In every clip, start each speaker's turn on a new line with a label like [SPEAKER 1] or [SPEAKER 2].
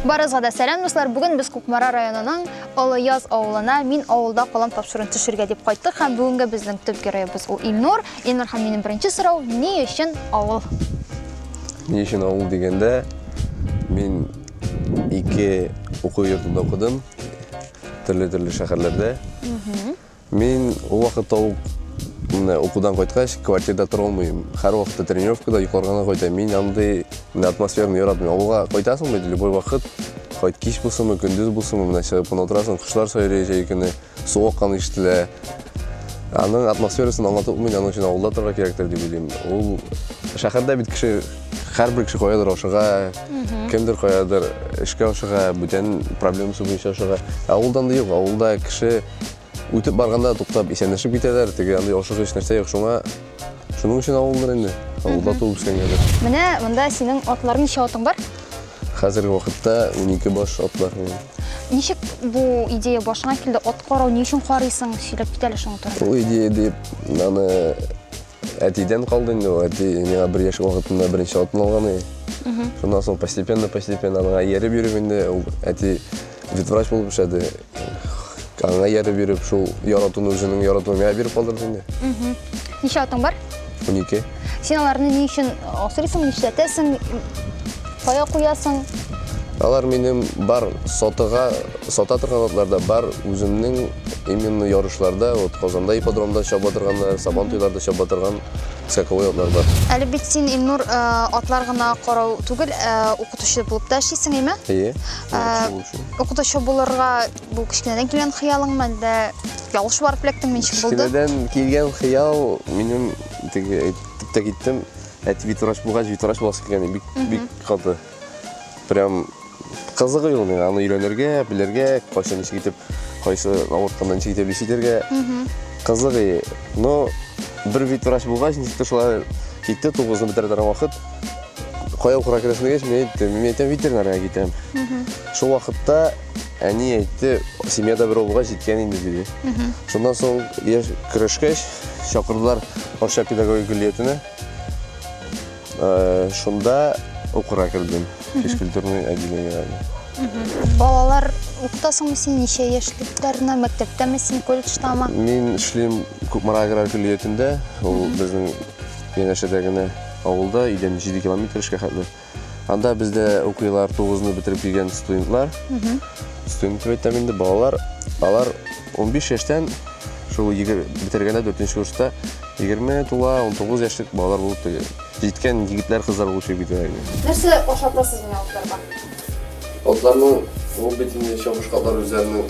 [SPEAKER 1] Барызга да сәлам дуслар. Бүген без Кукмара районының Олы Яз авылына мин авылда калам тапшыруын төшергә дип кайттык һәм бүгенге безнең төп героебыз ул Илнур. Илнур һәм минем беренче сорау, ни өчен авыл?
[SPEAKER 2] Ни өчен авыл дигәндә, мин ике уку йортында укыдым, төрле-төрле шәһәрләрдә. Мин ул вакытта ук менә укудан кайткач, квартирада тора алмыйм. Һәрвакытта тренировкада йокларга гына кайтам. Мин андый менә атмосфераны яратмыйм. Авылга кайтасың бит, любой вакыт, кайт кич булсынмы, көндез булсынмы, менә чыгып кына утырасың, кошлар сайрый җәй көне, су акканы ишетелә. Аның атмосферасын аңлатып булмый, аның өчен авылда торырга кирәктер дип уйлыйм. Ул шәһәрдә бит кеше һәрбер кеше каядыр ашыга, кемдер каядыр эшкә ашыга, бүтән проблемасы буенча ашыга. Ә авылда андый юк. Авылда кеше Үтеп барганда туктап исәнләшеп китәләр, теге андый яхшы сөч нәрсә юк, шуңа шуның өчен авылдыр инде. Авылда туып үскәнгәдер. Менә монда
[SPEAKER 1] синең атлар ничә атың бар? Хәзерге
[SPEAKER 2] вакытта 12 баш ат бар. Ничек
[SPEAKER 1] бу идея башыңа килде? Ат карау ни өчен карыйсың? Сөйләп кит әле шуның турында. Ул идея дип,
[SPEAKER 2] аны әтидән калды инде. Әти миңа бер яшь вакытында беренче атын алган иде. Шуннан соң постепенно-постепенно аңа ияреп йөреп инде, ул әти ветврач булып эшләде. Аңа ярып биреп, шул яратуны үзенең яратуын миңа биреп калдырды инде. Ничә атың
[SPEAKER 1] бар? 12.
[SPEAKER 2] Син аларны ни
[SPEAKER 1] өчен асырыйсың, нишләтәсең, кая куясың? Алар
[SPEAKER 2] минем бар сатыга, сата торган атларда бар, үземнең именно ярышларда, вот Казанда ипподромда чаба торганнар, Сабан туйларда чаба торган скаковой атлар бар. Әле бит син Илнур
[SPEAKER 1] э, атлар гына карау түгел, э, укытучы булып та эшлисең, әйме? Әйе. Ә, Шул өчен. Укытучы булырга бу кечкенәдән килгән хыялыңмы, әллә ялгыш барып эләктеңме, ничек булды? Кечкенәдән килгән
[SPEAKER 2] хыял минем теге әйтеп тә киттем. Әти ветврач булгач, ветврач буласы килгән бик бик каты. Прям кызыгы юк миңа аны өйрәнергә, белергә, кайчан ничек итеп, кайсы авыртканда ничек итеп лечить итәргә. Кызыгы. Но бер ветврач булгач, ничек тә шулай китте, тугызны бетерә торган вакыт. Кая укырга керәсен дигәч, мин әйттем, мин әйтәм, ветеринарга китәм. Шул вакытта әни әйтте, семьяда бер улга җиткән инде диде. Шуннан соң яшь көрәшкәч, чакырдылар Арча педагогик көллиятенә. Э, шунда укырга кердем. Физкультурный отделениене.
[SPEAKER 1] Балалар укытасыңмы син ничә яшьлекләрне? Мәктәптәме син, колледждамы? Мин эшлим
[SPEAKER 2] Кукмара аграр көллиятендә. Ул безнең янәшәдә генә Авылда өйдән 7 километр эшкә хәтле. Анда бездә укыйлар, 9-ны бетереп килгән студентлар. Студент дип әйтәм инде, балалар. Алар 15 яшьтән шул бетергәндә 4 курста 20 тула, 19 яшьлек балалар булып теге. Җиткән егетләр, кызлар булып чыгып китәләр инде. Нәрсә ашатасыз менә атларга?
[SPEAKER 1] Атларның ул
[SPEAKER 2] бит инде чабышкалар үзләренең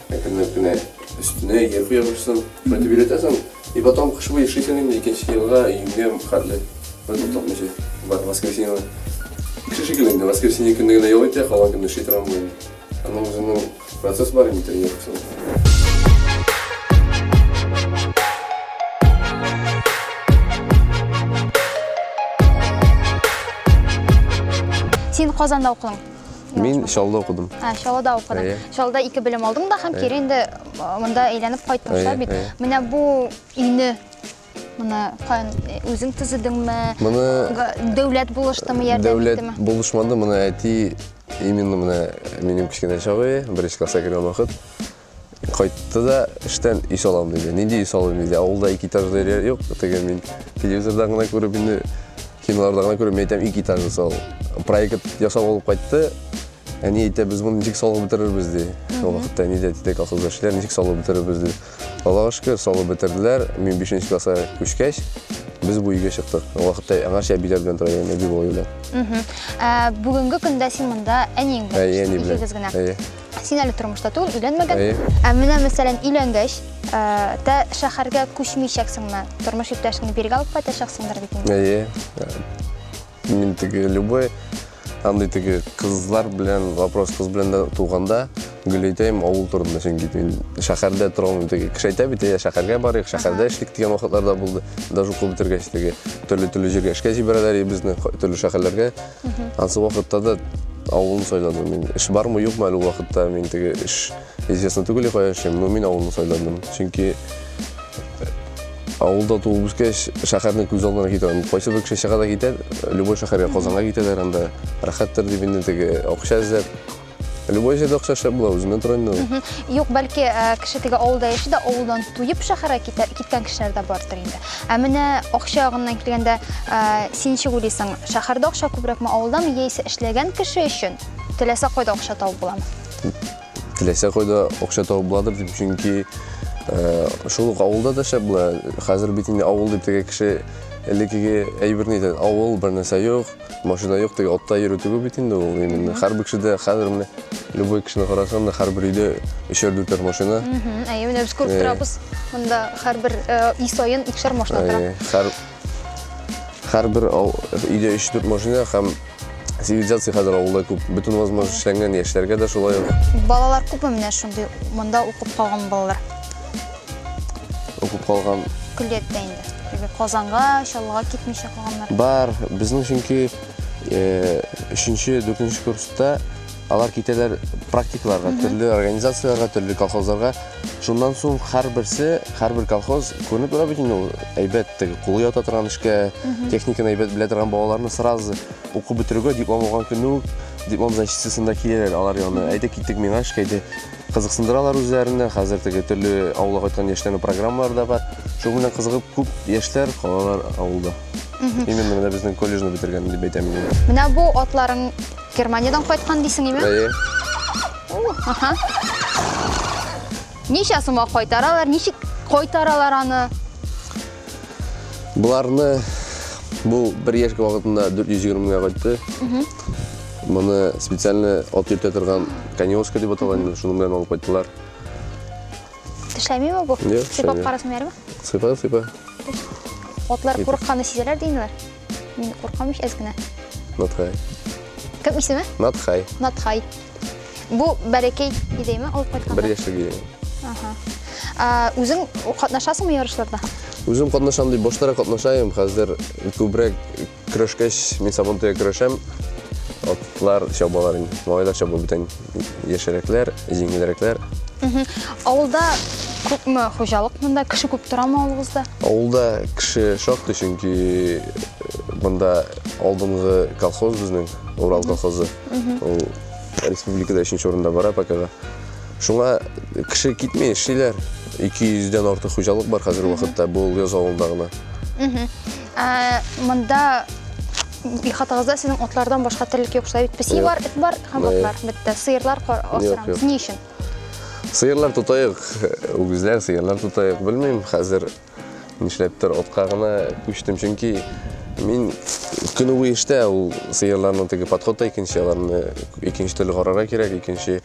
[SPEAKER 2] Әкренләп кенә өстенә йә куя башласаң, кайтып өйрәтәсең. И потом кыш буе эшлисең инде, икенче елга июньгә хәтле. Бер тотмыйча. Бар воскресенье. Кеше шикелле инде, воскресенье көнне генә ял итә, калган көнне эшли торган була. Аның үзенең процесс бар инде тренировкасында.
[SPEAKER 1] Син Казанда укыйң. Мин Чаллыда
[SPEAKER 2] укыдым. Ә, Чаллыда укыдым. Әйе.
[SPEAKER 1] Чаллыда ике белем алдым да һәм кире инде монда әйләнеп кайттым бит. Менә бу өйне Мына каян үзең төзедеңме? Моны дәүләт булыштымы, ярдәм иттеме? Дәүләт булышмады, моны
[SPEAKER 2] әти именно менә минем кечкенә чагы, беренче класска кергән вакыт Кайтты да эштән өй салам диде. Нинди өй салам диде. Авылда ике этажлы өйләр юк. Теге мин телевизордан гына күреп инде киноларда гына күреп әйтәм ике этажлы сал. Проект ясап алып кайтты. Әни әйтә, без моны ничек салып бетерербез ди. Ул вакытта әни дә әйтте, колхозда эшләр, ничек салып бетерербез ди. Аллага шөкер, салып бетерделәр. Мин 5 класска күчкәч, без бу өйгә чыктык. Ул вакытта аңарча әбиләр белән тора идем, әби бабай белән. Мгм.
[SPEAKER 1] Ә, бүгенге
[SPEAKER 2] көндә
[SPEAKER 1] син монда әниең белән Әйе, яшисең, әни белән.
[SPEAKER 2] икегез
[SPEAKER 1] генә. Әйе. Син әле тормышта түгел, өйләнмәгән. Әйе. Ә менә мәсәлән, өйләнгәч, ә, тә шәһәргә күчмичәксеңме? Тормыш иптәшеңне биргә алып кайтачаксыңдыр бит инде. Әйе.
[SPEAKER 2] Мин теге любой андый теге кызлар белән вопрос кыз белән дә туганда гөләйтәем авыл турында чөнки мин шәһәрдә тора алмыйм теге кеше әйтә бит я шәһәргә барыйк шәһәрдә эшлик дигән вакытлар да булды даже укып бетергәч теге төрле төрле җиргә эшкә җибәрәләр и безне ка- төрле шәһәрләргә Ансы вакытта да авылны сайладым мин. Эш бармы, юкмы әле вакытта мин теге эш известно түгел кая эшлим, но мин авылны сайладым. Чөнки э, авылда туып үскәч, шәһәрне күз алдына китерәм. Кайсы бер кеше чыга да китә, любой шәһәргә, Казанга китәләр анда. Рәхәттер дип инде теге акча эзләп, Любой җирдә акча эшләп була, үзенә тронны. Юк, бәлки э,
[SPEAKER 1] кеше теге авылда яши дә, авылдан туеп шәһәргә китә- киткән кешеләр дә бардыр инде. Ә менә акча ягыннан килгәндә, э, син ничек уйлыйсың, шәһәрдә акча күбрәкме, авылдамы, яисә эшләгән кеше өчен теләсә кайда акча табып буламы? Теләсә
[SPEAKER 2] кайда акча табып буладыр дип, чөнки э, шул ук авылда да эшләп була. Хәзер бит инде авыл дип теге кеше элеккеге әйберне әйтә, авыл бер нәрсә юк, Машина юк теге отта йөрү түгел бит инде ул именно. Һәрбер кешедә хәзер менә любой кешене карасаң да һәрбер өйдә өчәр дүртәр машина. Әйе, менә без
[SPEAKER 1] күреп торабыз. Монда
[SPEAKER 2] һәрбер ай саен икешәр машина тора. Һәр һәрбер өйдә 3-4 машина һәм цивилизация хәзер авылда күп. Бөтен возможность эшләнгән, яшьләргә дә шулай. Балалар күпме
[SPEAKER 1] менә шундый монда укып калган балалар? Укып
[SPEAKER 2] калган. Күллектә инде. Теге
[SPEAKER 1] Казанга, Чаллыга китмичә калганнар. Бар, безнең
[SPEAKER 2] чөнки э, өченче, дүртенче курста алар китәләр практикаларга, төрле организацияләргә, төрле колхозларга. Шуннан соң һәрберсе, һәрбер колхоз күренеп тора бит инде ул әйбәт теге кулы ята торган эшкә, техниканы әйбәт белә торган балаларны сразу уку бетерүгә диплом алган көнне үк диплом защитасында киләләр алар янына. Әйдә киттек миңа эшкә, әйдә Кызыксындыралар үзләренә, хәзер теге төрле авылга кайткан яшьләрнең программалары да бар. Шуның белән кызыгып күп яшьләр калалар авылда. Именно менә безнең колледжны бетергән дип әйтәм мин. Менә бу
[SPEAKER 1] атларың Германиядән кайткан дисең, име? Әйе.
[SPEAKER 2] Аха.
[SPEAKER 1] Ничә сумга кайтаралар, ничек кайтаралар аны?
[SPEAKER 2] Боларны бу бер яшькә вакытында 420 меңгә кайтты. Моны специально от йөртә торган конёшка дип аталган инде, шуның белән алып кайттылар. Тешләмиме
[SPEAKER 1] бу? Сыйпап карасын бәрме? Сыйпа, сыйпа. Атлар курыкканны сизәләр ди инде. Мин куркам ич әз генә. Натхай.
[SPEAKER 2] Кем
[SPEAKER 1] исеме? Натхай. Натхай. Бу бәлекәй идеме алып кайтканда? Бер яшьлек иде.
[SPEAKER 2] Ага.
[SPEAKER 1] Үзең катнашасыңмы ярышларда? Үзем катнашам
[SPEAKER 2] дип баштарак катнашайым. Хәзер күбрәк көрәшкәч, мин сабантуя көрәшәм. Атлар чабалар инде. Малайлар чаба бүтән. яшәрәкләр, җиңелрәкләр.
[SPEAKER 1] Авылда күпме хуҗалык монда? Кеше күп торамы авылыгызда? Авылда кеше
[SPEAKER 2] шактый, чөнки э, монда алдынгы колхоз безнең, Урал колхозы. Ул республикада өченче урында бара пока. Шуңа кеше китми, эшлиләр. 200 дән артык хуҗалык бар хәзерге вакытта, бу яз авылында гына. Ә,
[SPEAKER 1] монда ихатагызда сезнең атлардан башка терлек юк шулай бит. Песи бар, эт бар һәм Юк. атлар. Бетте. Сыерлар кар- Юк, юк. асырамыз. Ни өчен? Сыерлар
[SPEAKER 2] тотайык, үгезләр, сыерлар тотайык, белмим, хәзер нишләптер атка гына күчтем, чөнки мин көне буе эштә, ул сыерларны теге подход та икенче, аларны икенче төрле карарга кирәк, икенче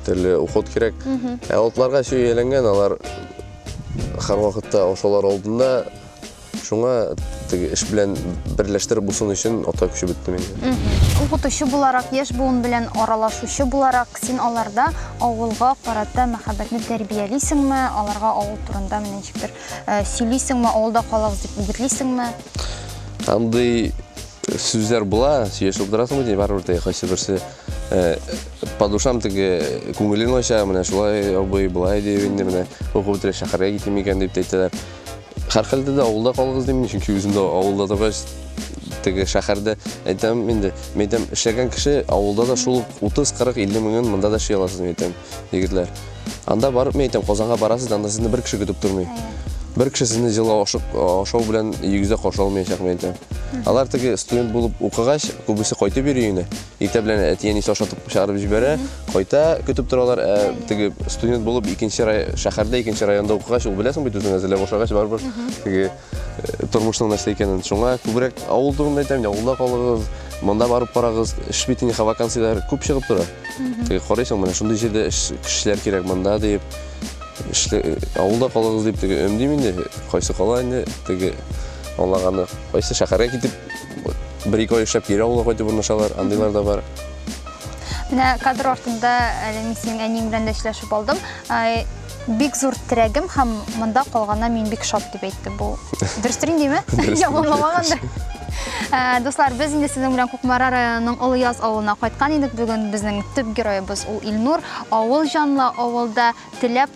[SPEAKER 2] төрле уход кирәк. Ә атларга чөй әйләнгән, алар һәрвакытта ашаулар алдында Шуңа теге эш белән берләштереп булсын өчен ата көче бетте миндә. Укытучы буларак,
[SPEAKER 1] яшь буын белән аралашучы буларак, син аларда авылга карата мәхәббәтне тәрбиялисеңме? Аларга авыл турында менә ничек бер э, сөйлисеңме? Авылда калыгыз дип үгетлисеңме? Андый
[SPEAKER 2] сүзләр була, сөйләшеп утырасыңмы ди, барыбер теге кайсы берсе э, по душам теге күңелен ача, менә шулай абый, болай дип инде менә укып бетерә шәһәргә китим икән дип әйтәләр. Һәрхәлдә дә авылда калыгыз дим мин, чөнки үзем дә авылда торгач, теге шәһәрдә әйтәм инде, мин әйтәм, эшләгән кеше авылда да шул 30-40-50 меңен монда да эшли аласыз, мин әйтәм, егетләр. Анда барып, мин әйтәм, Казанга барасыз, анда сезне бер кеше көтеп тормый. Бер кеше сезне җылы ашык, ашау белән йөзә каршы алмаячак, мин әйтәм. Алар теге студент булып укыгач, күбесе кайтып йөри өенә. Иртә белән әти-әнисе ашатып чыгарып җибәрә, кайта, көтеп торалар. Ә теге студент булып икенче шәһәрдә, икенче районда укыгач, ул беләсең бит үзең әзерләп ашагач барыбер теге э, тормышның нәрсә икәнен. Шуңа күбрәк авыл турында әйтәм, авылда калыгыз, монда барып карагыз, эш бит инде вакансияләр күп чыгып тора. Теге карыйсың, менә шундый җирдә кешеләр кирәк монда дип. Эшле э, авылда калыгыз дип теге өндим инде, кайсы кала инде теге Аллаганы кайсы шәһәргә китеп Бер-ике ай эшләп кире авылга кайтып урнашалар, андыйлар да бар. Менә
[SPEAKER 1] кадр артында әле мин синең әниең белән дә сөйләшеп алдым. Бик зур терәгем һәм монда калгана мин бик шат дип әйтте. Бу дөрестер индеме? Яманламагандыр. Ә, дуслар, без инде сезнең белән Кукмара районының Олы Яз авылына кайткан идек. Бүген безнең төп героебыз ул Илнур. Авыл җанлы, авылда теләп